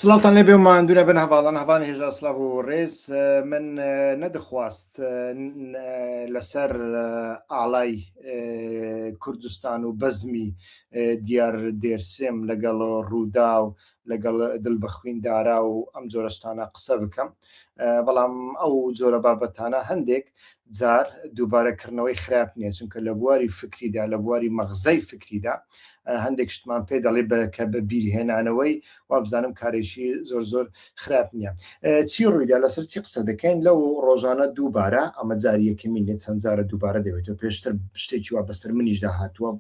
سلاوتان لێبێ و ماندوو نەبن هەواڵان هەواڵ هێژا سلااو و ڕێز من نەدەخواست لەسەر ئاڵای کوردستان و بەزمی دیار دێرسێم لەگەڵ ڕوودا و لەگەڵ دڵ بە خویندارا و ئەم جۆرەشتانە قسە بکەم بەڵام ئەو جۆرە بابەتانە هەندێک جار دووبارە کڕنەوەی خراپ نیە چونکە لە بواری فکریدا لە بواری مەغزەی فکریدا هەندێک شتمان پێ دەڵێ بە کە بە بیرهێنانەوەی وابزانم کارێکی زۆر زۆر خراپ نیە چی ڕوویدا لەسەر چی قسە دەکەین لەو ڕۆژانە دووبارە ئەمە جاریەکەمی نێ چەند جارە دووبارە دەبێتەوە پێشتر شتێکی وا بەسەر منیشدا هاتووە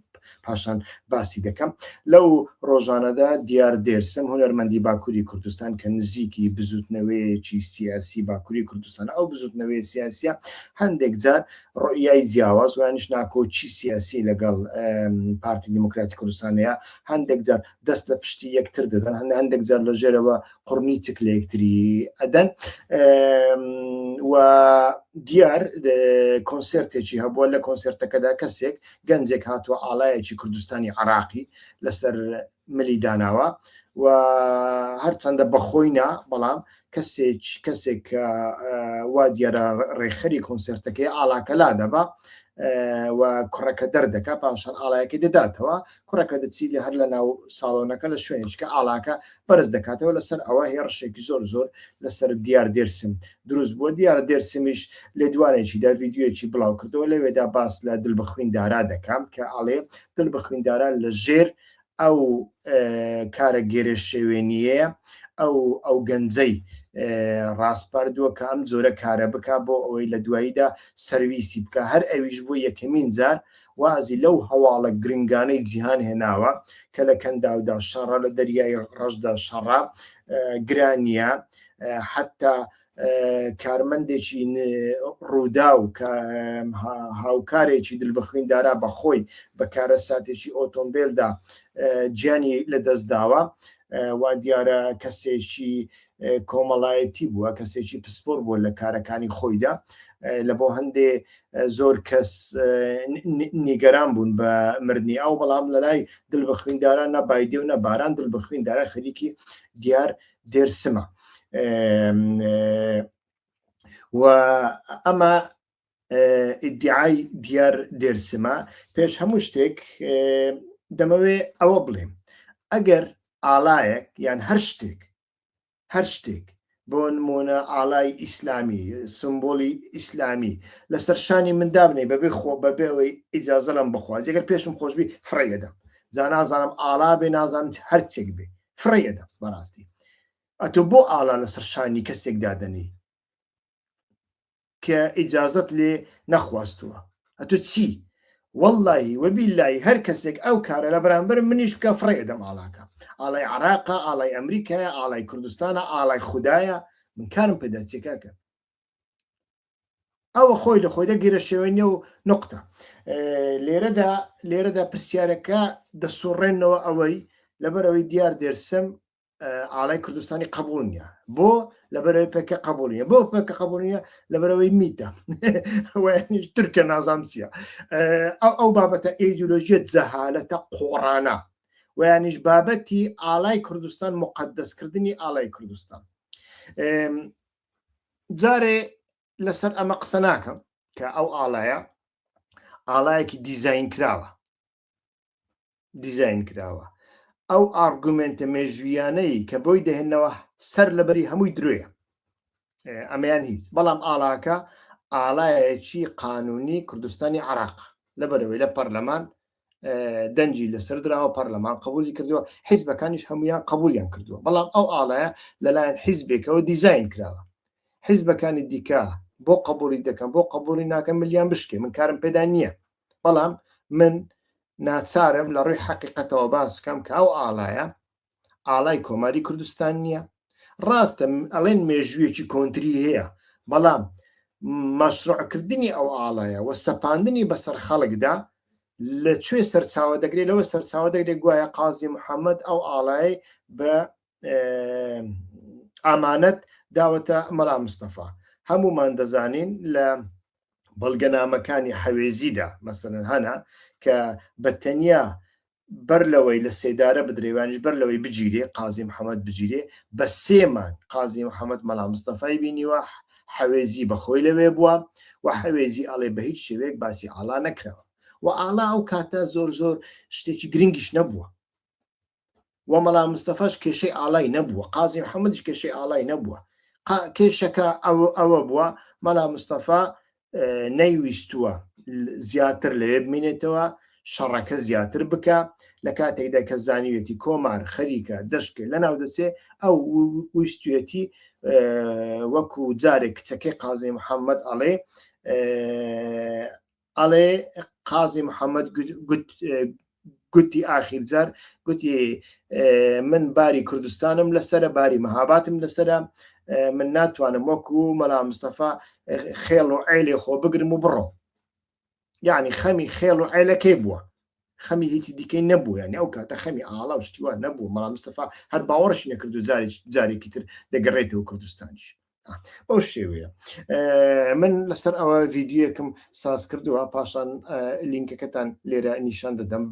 پاشان باسی دەکەم لەو ڕۆژانەدا دیار دێرسم هونەرمەندی باکووری کوردستان کە نزیکی بزوتنەوەیەکی سیاسی باکووری کوردستان ئەو بزوتنەوەی سیاسە هەندێک جار ڕۆیای جیاواز وانش ناکۆچی سیاسی لەگەڵ پارتی دیموکراتی کوردستانەیە هەندێک جار دەست لە پشتی یەکتر دەدەن هەند هەندێک جار لە ژێرەوە قڕنی چک لە یەکتری ئەدەن و دیار کۆنسرتێکی هەبووە لە کۆنسرتەکەدا کەسێک گەنجێک هاتووە ئاڵایەکی کوردستانی عەراقی لەسەر ملی داناوە و هەرچەندە بەخۆی نا بەڵام کەسێک کەسێک کە وا دیارە ڕێخەری کۆنسرتەکەی ئاڵاکەلا دەبا و کوڕەکە دەردەکە پاشان ئاڵایەکەی دەداتەوە کوڕەکە دەچی لە هەر لە ناو ساڵۆنەکە لە شوێنچکە ئاڵاکە بەرز دەکاتەوە لەسەر ئەوە هێڕشێکی زۆر زۆر لەسەر دیار دێرسم دروست بووە دیارە دێرسمیش لێدوانێکیدا ڤیدیۆیەکی بڵاوکردەوە لەوێدا باس لە دل بە خویندارا دەکەم کە ئەڵێ دل بە خویندارا لە ژێر ئەو کارە گێرە شێوێنیە ئەو ئەو گەنجەی ڕاستپاردووە کە ئەم جۆرە کارە بک بۆ ئەوەی لە دواییدا سەرویسی بکە هەر ئەویش بۆ یەکەمین جار وازی لەو هەواڵە گرنگانەی جیهان هێناوە کە لە کەنداودا شەڕە لە دەریای ڕەشدا شەڕە گرانیە حتا کارمەندێکی ڕوودا و هاوکارێکی دل بخوین دارا بەخۆی بەکارە ساتێکی ئۆتۆمبیلدا جیانی لە دەست داوە وا دیارە کەسێکی کۆمەڵایەتی بووە کەسێکی پسپۆر بووە لە کارەکانی خۆیدا لە بۆ هەندێ زۆر کەس نیگەران بوون بە مردنی ئەو بەڵام لەلای دل بە خوینداران نە بایدێ و نە باران دل بە خویندارە خەریکی دیار دێرسمە و ئەمە ئیدعای دیار دێرسمە پێش هەموو شتێک دەمەوێ ئەوە بڵێم ئەگەر ئالایەک یان هەر شتێک هەر شتێک بۆ نمونە ئالای ئیسلامی سمبولی ئیسلامی لەسەر شانی مندابنێ بەبێ خۆ بەبێەوەی ئیجازەلم بخوازیگەر پێشم خۆشببی فڕێدەم جا نازانم ئالا بێ نازانم هەرچێک بێ فڕێی ئەدەم بەڕاستی ئەتۆ بۆ ئاڵا لەسەر شانی کەسێک دادەنێی کە ئیجازت لێ نەخواستووە ئەتو چی واللهی وەبی لای هەر کەسێک ئەو کارە لە بەرامبەر منیش بکە فڕێ دەم ئاڵاکە ئاڵای عراقا ئاڵای ئەمریکایە ئاڵای کوردستانە ئاڵای خوددایە من کارم پێداچێکاکە ئەوە خۆی لە خۆیدا گیرەشێوێنە و نقطە لێرەدا لێرەدا پرسیارەکە دەسوڕێنەوە ئەوەی لەبەرەوەی دیار دێرسم ئالای کوردستانی قبولە بۆ لەبەرەوەی پێکە قبولە بۆ پێکە قبولە لەبەرەوەی میتە ترکە نازام چیە ئەو ئەو بابەتە ئیدولۆژیە جەهالەتە قۆڕانە ویانیش بابەتی ئالای کوردستان مقدەستکردنی ئالای کوردستان جارێ لەسەر ئەمە قسە ناکەم کە ئەو ئاڵایە ئاڵایەکی دیزین کراوە دیزین کراوە ئەو ئارگومنتە مێژویانەی کە بۆی دەهێنەوە سەر لەبەری هەمووی درۆیە ئەمەیان هیچ بەڵام ئاڵاکە ئاڵایەکی قانونی کوردستانی عراق لەبەرەوەی لە پەرلەمان دەنجی لەسەر دراوە پەرلەمان قبولی کردووە حیزبەکانیش هەمویان قبولیان کردووە بەڵام ئەو ئاڵایە لەلایەن حیزبێکەوە دیزین کراوە حیزبەکانی دیکە بۆ قبولی دەکەم بۆ قبولی ناکەم ملیان بشکێ من کارم پێدا نییە بەڵام من ناچارم لە ڕووی حقیقەتەوە باس بکەم کە ئەو ئاڵایە ئاڵای کۆماری کوردستان نییە ڕاستە ئەڵێن مێژوویەکی کۆنتری هەیە بەڵام مەشروعکردنی ئەو ئاڵایە و سەپاندنی بەسەر خەڵکدا لە کوێ سەرچاوە دەگرێت لەوە سەرچاوە دەگرێت گوایە قازی محەممەد ئەو ئاڵای بە ئامانەت داوەتە مەرا مستەفا هەمومان دەزانین لە بەڵگەنامەکانی حەوێزیدا مەسەرەن هەنا کە بە تەنیا بەر لەوەی لە سێدارە بدرێ یانیش بەر لەوەی بگیرێ قازی محەمەد بگیرێ بە سێ مانگ قازی محەمەد مەلا مستەفای بینیوە حەوێزی بە خۆی لەوێ بووە و حەوێزی ئەڵێ بە هیچ شێوەیەک باسی ئاڵا نەکراوە و ئاڵا ئەو کاتە زۆر زۆر شتێکی گرنگیش نەبووە و مەلا مستەفاش کێشەی ئاڵای نەبووە قازی محەمەدش کێشەی ئاڵای نەبووە کێشەکە ئەوە ئەوە بووە مەلا مستەفا نەیویستووە زیاتر لەوێ بمێنێتەوە شەڕەکە زیاتر بکە لە کاتێکدا کە زانیوێتی کۆمار خەریکە دەشکێ لە ناو دەچێ ئەو ویستێتی وەکو جارێک کچەکەی قازی محەممەد ئەڵێ ئەڵێ قازی محەممەد گوتی ئاخیر جار گوتی من باری کوردستانم لەسرە باری مەهاباتم لەسرە من ناتوانم وەکو مەلا مستەفا خێڵ و عیلێ خۆ بگرم و بڕۆ یعنی خەمی خێڵ و عیلەکەی بووە خەمی هیچی دیکەی نەبوو یعنی ئەو کاتە خەمی ئاڵا و شتیوان نەبوو مەلا مستەفا هەر باوەڕشی نەکرد و جارێکی تر دەگەڕێتەوە کوردستانیش بەو شێوەیە من لەسەر ئەوە ڤیددیوەکەم ساز کردووە پاشان لینکەکەتان لێرە نیشان دەدەم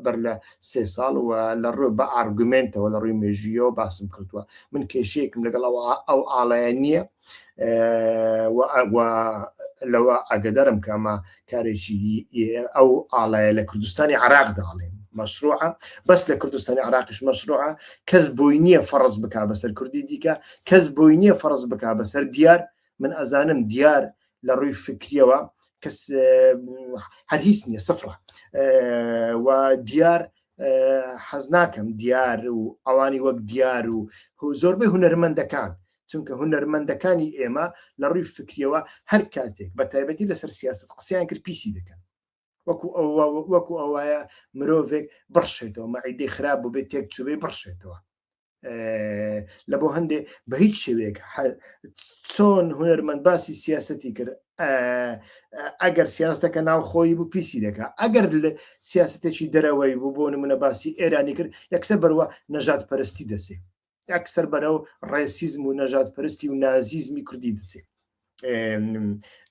بەر لە سێ ساڵ و لە ڕوێ بە ئارگومنتەوە لە ڕووی مێژویەوە باسم کردووە من کێشەیەکم لەگەڵەوە ئەو ئاڵایە نییە لەوە ئاگدارم کەمە کارێکی ئەو ئاڵایە لە کوردستانی عراق داڵێن مەشروعە بەس لە کوردستانی عراقش مەشروعە کەس بۆی نییە فەرز بک بەسەر کوردی دیکە کەس بۆی نییە فەرز بک بەسەر دیار من ئەزانم دیار لە ڕووی فکریەوە کەس هەر هیچ نییە سفرە و دیار حەز ناکەم دیار و ئەوانی وەک دیار و زۆربەی هوەرمەندەکان چونکە هونەرمەندەکانی ئێمە لە ڕووی فکریەوە هەر کاتێک بە تایبەتی لەسەر سیاست قسەیان کرد پیسی دەکەن وەکو وەکو ئەوایە مرۆڤێک بڕشێتەوە مەعیدەی خراپ بوو بێت تێک چوبێ بڕشێتەوە لە بۆ هەندێ بە هیچ شێوەیەک چۆن هونەرمەند باسی سیاستی کرد ئەگەر سیاستەکە ناو خۆی بوو پیسی دەکا ئەگەر لە سیاستێکی دەرەوەی بوو بۆ نمونە باسی ئێرانی کرد یەکسە بەروە نەژات پەرستی دەسێ ئەکسەر بەرەو ڕێسیزم و نەژادپەرستی و نازیزمی کوردی دەچێت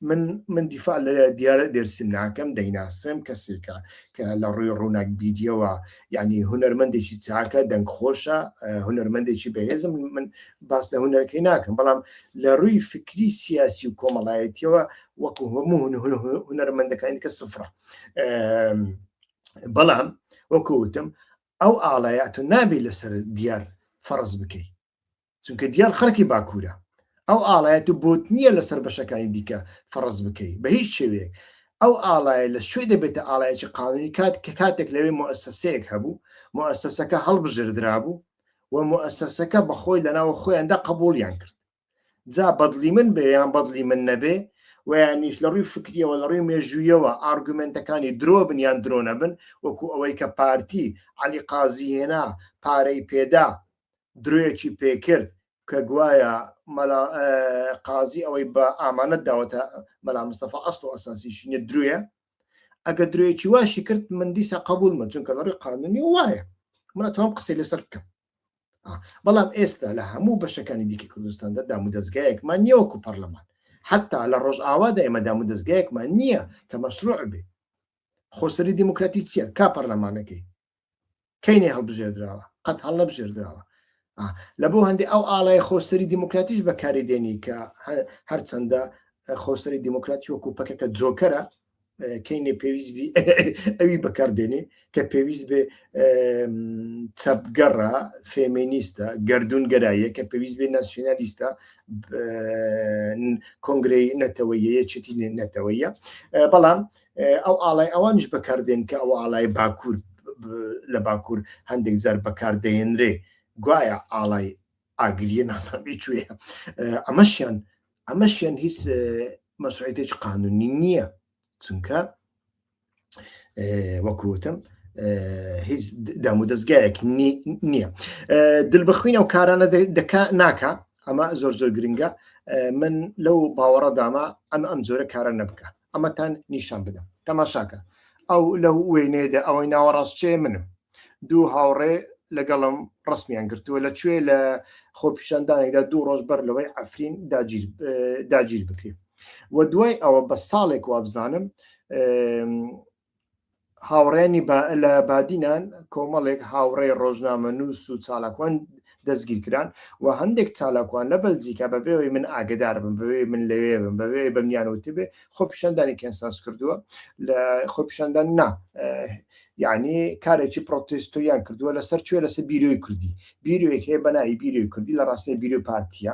من من دیفاع لە دیارە دەرسیم ناکەم دەیناسم کەسێکە کە لە ڕووی ڕووناک بیریەوە یعنی هوەرمەندێکی چاکە دەنگ خۆشە هوەرمەندێکی بەهێزم من باس لە هوەرەکەی ناکەم بەڵام لە ڕووی فکری سیاسی و کۆمەڵایەتیەوە وەکو هەموو هوەرمەندەکانی کە سفرە بەڵام وەکوتم ئەو ئاڵایە تۆ نابێ لەسەر دیار فەڕز بکەی چونکە دیار خەرکی باکوورە ئەو ئاڵایەت و بۆت نییە لەسەر بەشەکانی دیکە فەڕز بکەی بە هیچ شێوەیە ئەو ئاڵایە لە شوێ دەبێتە ئاڵایەکی قانونی کات کە کاتێک لەوێ مؤسسەیەک هەبوو مؤسسەکە هەڵبژردرابوو و مؤسسەکە بەخۆی لەناوە خۆیاندا قبوڵیان کرد جا بەدڵی من بێ یان بەدڵی من نەبێ ویانیش لە ڕووی فکریەوە لە ڕووی مێژوویەوە ئارگومنتەکانی درۆ بن یان درۆ نەبن وەکو ئەوەی کە پارتی علی قازی هێنا پارەی پێدا درۆیەکی پێکرد کە گوایە قازی ئەوەی بە ئامانەت داوەتە مەلا مستەفا ئەست و ئەساسیشی نیە درۆیە ئەگە درۆیەکی واشی کرد من دیسا قبول من چونکە لەڕی قانونی وایە منە تۆم قسەی لەسەر بکەم بەڵام ئێستا لە هەموو بەشەکانی دیکە کوردستاندا دامودەستگایەکمان نییە وەکو پەرلەمان حتا لە ڕۆژئاوادا ئێمە دامودەستگایەکمان نییە کە مەشروع بێ خۆسەری دیموکراتی چییە کا پەرلەمانەکەی کەینێ هەڵبژێردراوە قەت هەڵ نەبژێردراوە لە بۆ هەندێک ئەو ئاڵای خۆسەری دیموکراتیش بەکاری دێنی کە هەرچەندە خۆسەری دیموکراتی وەکو پەکەکە جۆکەرە کەینێ پێویست بی ئەوی بەکاردێنێ کە پێویست بێ چەپگەڕە فێمینیستە گردون گەرایە کە پێویست بێ ناسیۆنالیستە کۆنگری نەتەوەیە چتی نەتەوەیە بەڵام ئەو ئاڵای ئەوانش بەکاردێن کە ئەو ئاڵای باکوور لە باکوور هەندێک جار بەکاردێنرێ گوایە ئاڵای ئاگریە ناسەبی کوێ ئەمەشیان ئەمەشیان هیچ مەسوعێتێک قانونی نییە چونکە وەکوتم هیچ دام و دەستگایەک نییە دل بخوینە و کارانە دەکا ناکە ئەمە زۆر زۆر گرنگە من لەو باوەڕە داما ئەم ئەم جۆرە کارە نەبکە ئەمەتان نیشان بدەم تەماشاکە ئەو لەو وێنەیەدا ئەوەی ناوەڕاست چێ منم دوو هاوڕێ لەگەڵم ڕسمیان گرتووە لە کوێ لە خۆپیشاندانێکدا دوو ڕۆژ بەر لەوەی ئەفرین داگیر بکرێت و دوای ئەوە بە ساڵێک وابزانم هاوڕێیانی با لە بادینان کۆمەڵێک هاوڕێی ڕۆژنامەنووس و چالاکوان دەستگیر کران و هەندێک چالاکوان لە بەلجیکا بە بێ ئەوەی من ئاگەدار بم، بە بێ ئەوەی من لەوێ بم، بە بێ ئەوەی بەمنیان وتبێ خۆپیشاندانی کەنسانس کردووە لە خۆپیشاندان نا یانی کارێکی پڕۆتێستۆیان کردووە لەسەر چێ لەسەر بیرۆی کوردی بیرۆیەک هەیە بە ناوی بیرۆی کوردی لە ڕاستێ بیرۆی پارتییە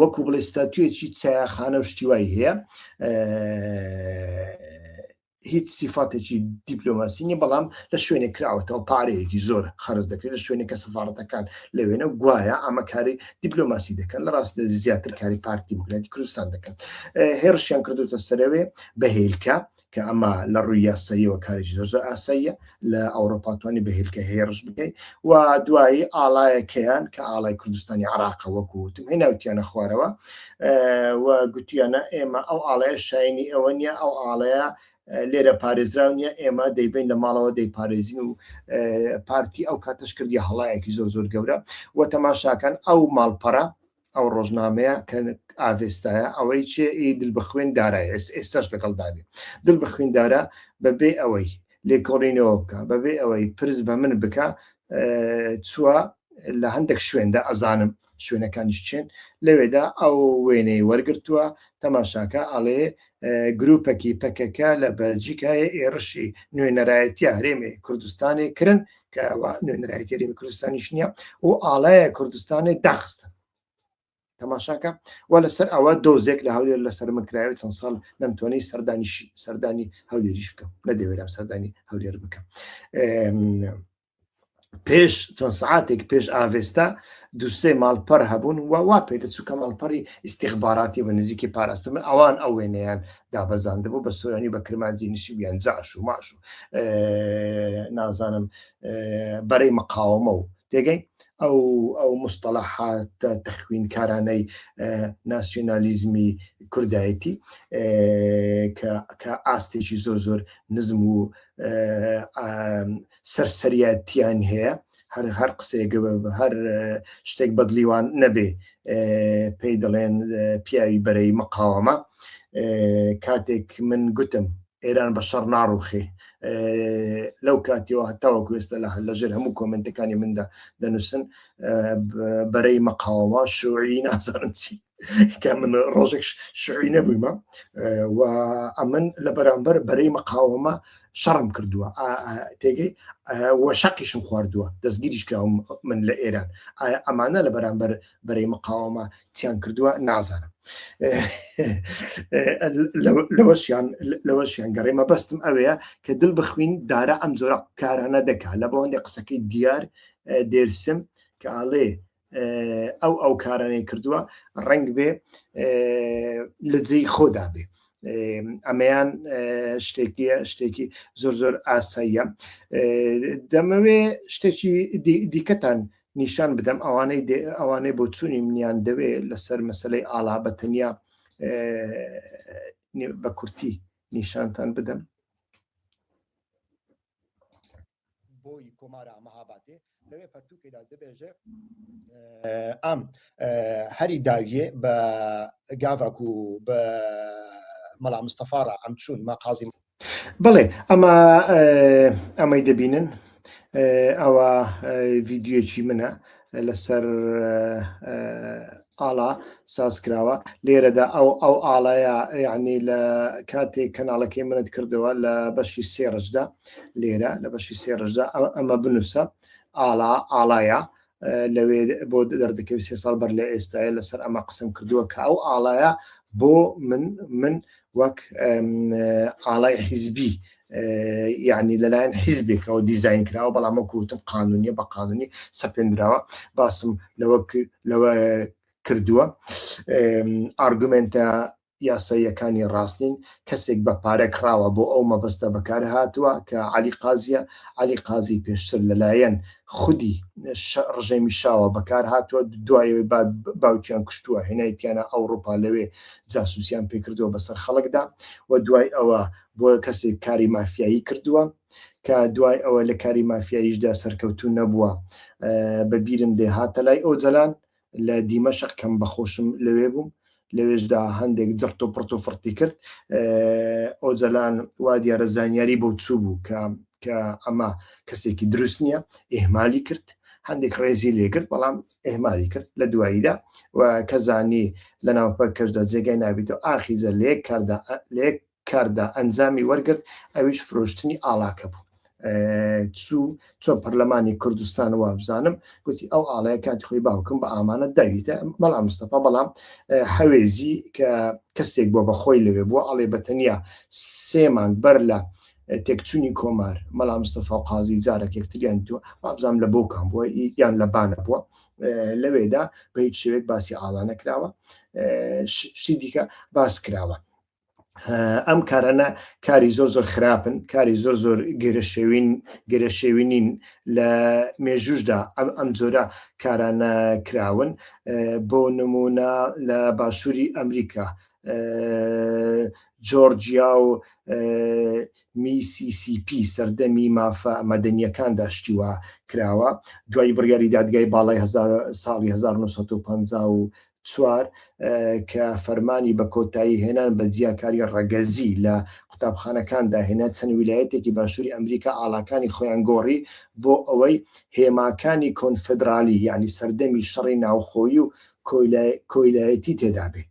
وەکو بڵێ ستاتوێکی چایاخانە و شتیوای هەیە هیچ سیفاتێکی دیپلۆماسیینی بەڵام لە شوێنێک کراوەتەوە پارەیەکی زۆر خەرز دەکرێت لە شوێنێکە سەفاڕەتەکان لە وێنە و گوایە ئەمە کاری دیپلۆماسی دەکەن لە ڕاست زیاتر کاری پارتی بگراتی کوردستان دەکەن هێرشیان کردوتە سەرەوێ بەهێلکە کە ئەمە لە ڕووی یاساییەوە کارێکی زۆر زۆر ئاساییە لە ئەوڕۆپا توانی بە هێلکە هێرش بکەیت و دوایی ئاڵایەکەیان کە ئاڵای کوردستانی عراقە وەکو وتم هی ناوتیانە خوارەوە و گوتیانە ئێمە ئەو ئاڵەیە شاینی ئەوە نییە ئەو ئاڵەیە لێرە پارێزراو نیە ئێمە دەیبین لە ماڵەوە دەیپارێزین و پارتی ئەو کاتەش کردی هەڵایەکی زۆر زۆر گەورە و تەماشاکان ئەو ماڵپەرە ئەو ڕۆژنامەیە کە ئاڤێستایە ئەوەی چێ ئی دل بە خوێن دارای ئێس ئێستاش لەگەڵ دابێ دل بە خوێن دارا بەبێ ئەوەی لێکۆڵینەوە بکە بەبێ ئەوەی پرس بە من بکە چووە لە هەندێک شوێندا ئەزانم شوێنەکانیش چێن لەوێدا ئەو وێنەی وەرگتووە تەماشاکە ئەڵێ گروپەکی پەکەکە لە بەلجیکایە ئێڕشی نوێنەرایەتی هەرێمێ کوردستانی کرن کەوا نوێنەرایەتی رێمی کوردستانیش نییە و ئاڵایە کوردستانی داخستن تەماشاکە و لەسەر ئەوە دۆزێک لە هەولێر لەسەر من کرایەوە چەند ساڵ نەمتوانانی سەردانیش سەردانی هەولێریش بکەم نەدەوێرم سەردانی هەولێر بکەم پێش چەند سعاتێک پێش ئاڤێستا دوسێ ماڵپەر هەبوون و وا پێدەچوو کە ماڵپەری ئیسیخباراتی بە نزیکی پاراستن ئەوان ئەوێنیان دابەزاندبوو بە سۆرانی و بە کرمانجی نشیویان جاش و ماش و نازانم بەرەی مقاومە و تێگەی ئەو ئەو مستەلاحات تەخوینکارانەی ناسیۆنالیزمی کوردایەتی کە ئاستێکی زۆر زۆر نزم و سەرسەریتیان هەیە هەر هەر قسەیەگە هەر شتێک بەدلیوان نەبێ پێی دەڵێن پیاوی بەرەی مقاوەمە کاتێک من گوتم ئێران بە شەڕ ناڕوخێ لەو کاتیەوە هەتاوە کوێستە لە لەژێر هەموو کۆمنتەکانی مندا دەنووسن بەرەی مەقاوە شوعی نازانم چی کە من ڕۆژێک شعوی نەبوویمە و ئەمن لە بەرامبەر بەرەی مەقاومە شەڕم کردووە تێگەی و شەقیشم خواردووە دەستگیریش کراوم من لە ئێران ئەمانە لە بەرامبەر بەرەی مقاومە تیان کردووە نازانم لەوەشیان لەوەشیان گەڕێ مەبەستم ئەوەیە کە دل بخوین دارە ئەم جۆرە کارانە دەکات لە بەوەندی قسەکەی دیار دێرسم کە ئاڵێ ئەو ئەو کارانەی کردووە ڕنگ بێ لە جێی خۆدا بێ ئەمەیان شتێکی شتێکی زۆر زۆر ئاساییە دەمەوێ شتێکی دیکەتان نیشان بدەم ئەوانەی ئەوانەی بۆ چوونی منیان دەوێ لەسەر مەسلەی ئاڵا بە تەنیا بە کورتی نیشانتان بدەم بۆی کۆمارا مەهابادێ لەوێ پەرتووکێدا دەبێژێ ئام هەری داویێ بە گاڤاک و بە مەلا مستەفاڕە ئەم چوون مە قازی بڵێ ئەمە ئەمەی دەبینن ئەوە ڤیددیوەکی منە لەسەر ئاڵا ساز کراوە لێرەدا ئەو ئەو ئاڵایە یعنی لە کاتێک کەناڵەکەی منت کردەوە لە بەشی سێڕشدا لێرە لە بەشی سێڕشدا ئەمە بنووسە ئاڵا ئاڵایە لەوێ بۆ دەردەکەوی سێ ساڵ بەر لە ئێستاە لەسەر ئەمە قسم کردووە کە ئەو ئاڵایە بۆ من من وەک ئاڵای حیزبی یعنی لەلایەن حیزبێکەوە دیزین کراوە بەڵام وەکو وتم قانونیە بە قانونی سەپێنراوە باسم لەوە لەوە کردووە ئارگومنتە یاساییەکانی ڕاستین کەسێک بە پارە کراوە بۆ ئەو مەبەستە بەکار هاتووە کە علی قازیە علی قازی پێشتر لەلایەن خودی ڕژێمی شاوە بەکار هاتووە دوایەوەی باوکیان کوشتووە هێنایتیانە ئەوروپا لەوێ جاسوسیان پێکردووە بەسەر خەڵکدا و دوای ئەوە بۆ کەسێک کاری مافیایی کردووە کە دوای ئەوە لە کاری مافیاییشدا سەرکەوتوو نەبووە بەبیرم دێ هاتە لای ئەو جەلان لە دیمەشق کەم بەخۆشم لەوێ بووم لەوێشدا هەندێک جڕت و پڕت و فڕتی کرد ئەو جەلان وا دیارە زانیاری بۆ چوو بوو کە کە ئەمە کەسێکی دروست نییە ئێهمالی کرد هەندێک ڕێزی لێگرت بەڵام ئهمالی کرد لە دواییدا و کە زانی لە ناوپە کەشدا جێگای نابیتەوە ئاخیزە لە یەک کاردا لە یەک کاردا ئەنجامی وەرگرت ئەویش فرۆشتنی ئاڵاکە بوو چوو چۆن پەرلەمانی کوردستان وابزانم گوتی ئەو ئاڵەیە کاتی خۆی باوکم بە ئامانەت داویتە مەڵا مستەفا بەڵام حەوێزی کە کەسێک بۆ بەخۆی لەوێ بووە ئەڵێ بەتەنیا سێمان بەر لە تێکچونی کۆمار مەلا مستەفا قازی جارێک یەکتریان تو وابزانم لە بۆکان بووە یان لە بانە بووە لەوێدا بە هیچ شوێک باسی ئاڵانە کراوە شتی دیکە باس کراوە ئەم کارانە کاری زۆر زۆر خراپن کاری زۆر زۆر گەرەشێوین گەرەشێوینین لە مێژوشدا ئەم ئەم جۆرە کارانە کراون بۆ نمونە لە باشووری ئەمریکا جۆرجیا و میCCP سەردەمی مافە مەدەنیەکاندا شتی وا کراوە دوای بڕیاری دادگای باڵای ساڵی 1954 کە فەرمانی بە کۆتایی هێنان بە جیاکاری ڕەگەزی لە قوتابخانەکان داهێنا چەند ویلایەتێکی باشووری ئەمریکا ئاڵاکانی خۆیان گۆڕی بۆ ئەوەی هێماکانی کۆنفدرالی یعنی سەردەمی شەڕی ناوخۆیی و کۆیلایەتی تێدابێت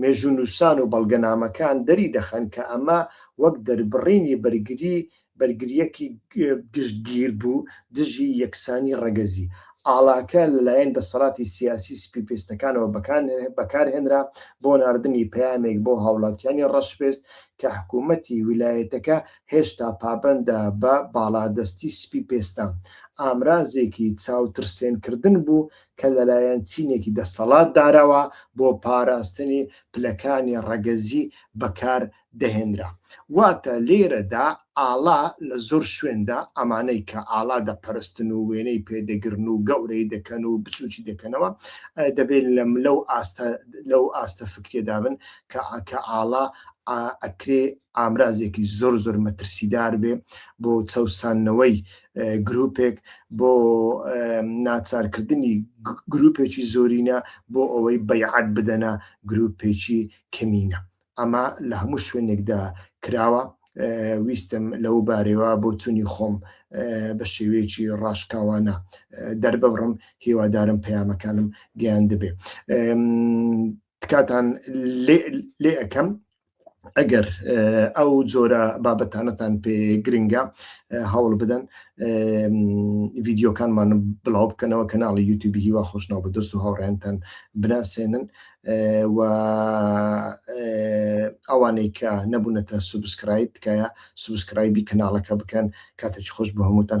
مێژوونووسان و بەڵگەنامەکان دەری دەخەن کە ئەمە وەک دەربڕینی بەرگری بەرگرییەکی گشتگیر بوو دژی یەکسانی ڕەگەزی. ئاڵاکە لەلایەن دەسەڵاتی سیاسی سپیپێستەکانەوە بەکارهێنرا بۆ ناردنی پەیامێک بۆ هاوڵاتیانی ڕەشپێست کە حکوومەتی ویلایەتەکە هێشتا پابەندە بە باڵادەستی سپیپێستان، ئامرازێکی چاوترسێنکردن بوو کە لەلایەن چینێکی دەسەڵاتدارەوە بۆ پاراستنی پلەکانی ڕەگەزی بەکار دەهێنرا. واتە لێرەدا ئاڵا لە زۆر شوێندا ئەمانەی کە ئاڵا دەپەرستن و وێنەی پێ دەگرن و گەورەی دەکەن و بچوکی دەکەنەوە دەبێت لە لەو ئاستە لەو ئاستە فکرێدا بن کە کە ئاڵا ئەکرێ ئامرازێکی زۆر زۆر مەترسیدار بێ بۆ چەوسانەوەی گروپێک بۆ ناچارکردنی گروپێکی زۆرینە بۆ ئەوەی بەیعات بدەنە گروپێکی کەمینە ئەمە لە هەموو شوێنێکدا کراوە ویستم لەو بارەوە بۆ چونی خۆم بە شێوەیەکی ڕاشکاوانە دەرببڕم هیوادارم پەیامەکانم گەیان دەبێ تکاتان لێ ئەەکەم ئەگەر ئەو جۆرە بابەتانەتان پێ گرنگە هەوڵ بدەن ڤیددیوکانمان بڵاو بکەنەوە کەناڵی یوتوبی هیوا خۆشناو بە دەست و هاوڕێنتان بناسێنن و ئەوانەی کە نەبوونەتە سوبسکرایب تکایە سوبسکرایبی کەناڵەکە بکەن کاتێکی خۆش بە هەمووتان